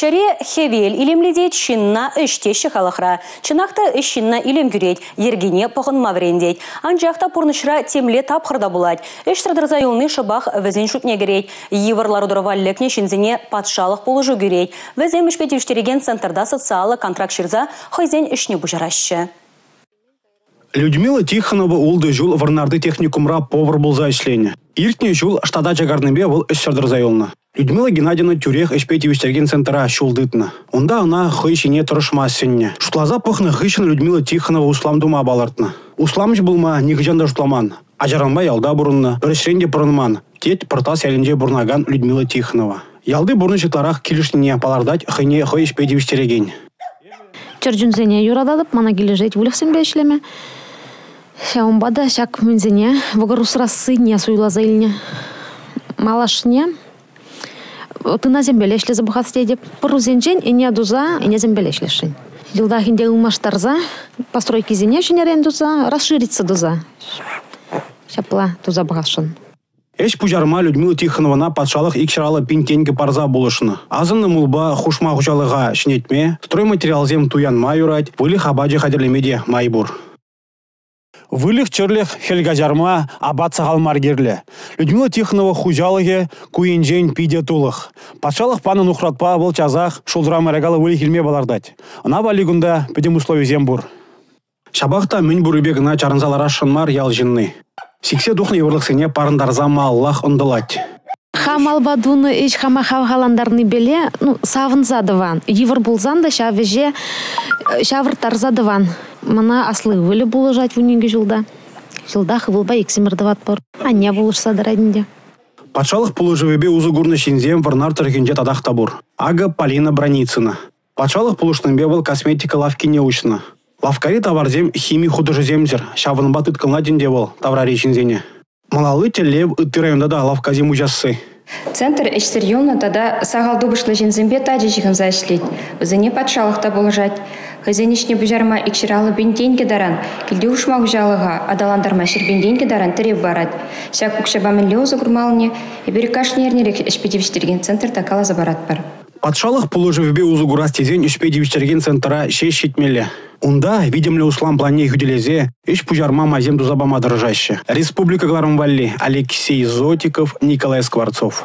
Ҫӗре хӗвел илемлетет, ҫынна ӗҫ теҫҫӗ халӑхра. Чӑнах та ӗҫ ҫынна илем кӳрет, йӗркине пӑхӑнма вӗрентет. Анчах та пурнӑҫра темле тапхӑр та пулать. Ӗҫсӗр тӑрса юлни шӑпах вӗсен шутне кӗрет. Йывӑр лару-тӑрӑва лекнӗ ҫынсене патшалӑх пулӑшу кӳрет. Вӗсем ӗҫпе тивӗҫтерекен центрта социаллӑ контракт ҫырса хӑйсен ӗҫне пуҫараҫҫӗ. Людмила Тихонова ултӑ ҫул Вӑрнарти техникумра повар пулса ӗҫленӗ. Иртнӗ ҫул штата чакарнипе вӑл ӗҫсӗр тӑрса юлнӑ. Людмила Геннадьевна тӳрех ӗҫпе тивӗҫтерекен центра ҫул тытнӑ. Унта ӑна хӑй ҫине тӑрӑшма сӗннӗ. Шутласа пӑхнӑ хыҫҫӑн Людмила Тихонова услам тума палӑртнӑ. Усламҫӑ пулма нихӑҫан та шутламан. Ачаранпа ялта пурӑннӑ, пӗр ӗҫрен те пӑрӑнман, тет Пӑртас ялӗнче пурӑнакан Людмила Тихонова. Ялти пурнӑҫ ытларах килӗшнине палӑртать хӑйне хӑй ӗҫпе тивӗҫтерекен. Чӗрчунсене юрататӑп, мана килӗшет выльӑхсемпе ӗҫлеме. Ҫавӑнпа та ҫак мӗнсене, вӑкӑр усрассине суйласа илнӗ. Малашне Тынасемпеле ӗҫлесе пӑхас тетӗп. Пӑрусенчен ӗне туса ӗнесемпеле ӗҫлесшӗн. Йӑлтах ӗнтӗ ылмаштарса постройкисене ҫӗнӗрен туса, расшириться туса. Ҫапла туса пӑхасшӑн. Ӗҫ пуҫарма Людмила Тихонована патшалӑх икҫӑраллӑ пин тенкӗ парса пулӑшнӑ. Асӑннӑ мулпа хушма хуҫалӑха ҫӗнетме, стройматериалсем туянма юрать, выльӑх апачӗ хатӗрлеме те май пур. Выльӑх-чӗрлӗх хӗл каҫарма апат сахал мар кирлӗ. Людмила Тихонова хуҫалӑхӗ ку енчен питӗ тулӑх. Патшалӑх панӑ нухратпа вӑл часах шултра мӑйракаллӑ выльӑх илме палӑртать. Ӑна валли кунта пӗтӗм условисем пур. Ҫапах та мӗн пуррипе кӑна чарӑнса ларасшӑн мар ял ҫынни. Сиксе тухнӑ йывӑрлӑхсене парӑнтарса малаллах ӑнтӑлать. Хам алба тунӑ ӗҫ хама хавхалантарнипеле ну, савӑнса тӑван. Йывӑр пулсан та ҫав ӗҫе ҫавӑрттарса тӑван. Мана асли ывӑлӗ пулӑшать вунникӗ ҫулта. Ҫултах ывӑлпа иксӗмӗр тӑватпӑр. Анне пулӑшса тӑрать ӗнтӗ. Патшалӑх пулӑшӑвӗпе усӑ курнӑ ҫынсем Вӑрнар тӑрӑхӗнче татах та пур. Акӑ Полина Броницына. Патшалӑх пулӑшнипе вӑл косметика лавккине уҫнӑ. Лавккари таварсем хими хутӑшӗсемсӗр, ҫавӑнпа тыткӑнлать ӗнтӗ вӑл таврари ҫынсене. Малалли тӗллев ытти районта та лавккасем уҫасси. Центр ӗҫсӗр юлнӑ тата сахал тупӑшлӑ ҫынсемпе тачӑ ҫыхӑнса ӗҫлет. Вӗсене патшалӑх та пулӑшать. Хӑйсен ӗҫне пуҫарма икҫӗр аллӑпин тенкӗ таран, килти хушма хуҫалӑха аталантарма ҫӗрпин тенкӗ таран тӗрев парать. Ҫак укҫапа мӗнле усӑ курмаллине эпир кашни эрнерех ӗҫпе тивӗҫтерекен центрта каласа паратпӑр. Патшалӑх пулӑшӑвӗпе усӑ курас тесен ӗҫпе тивӗҫтерекен центра ҫеҫ ҫитмелле. Унта витӗмлӗ услам планне хӳтӗлесе ӗҫ пуҫарма майсем туса пама тӑрӑшаҫҫӗ. Республика кӑларӑм валли Алексей Зотиков, Николай Скворцов.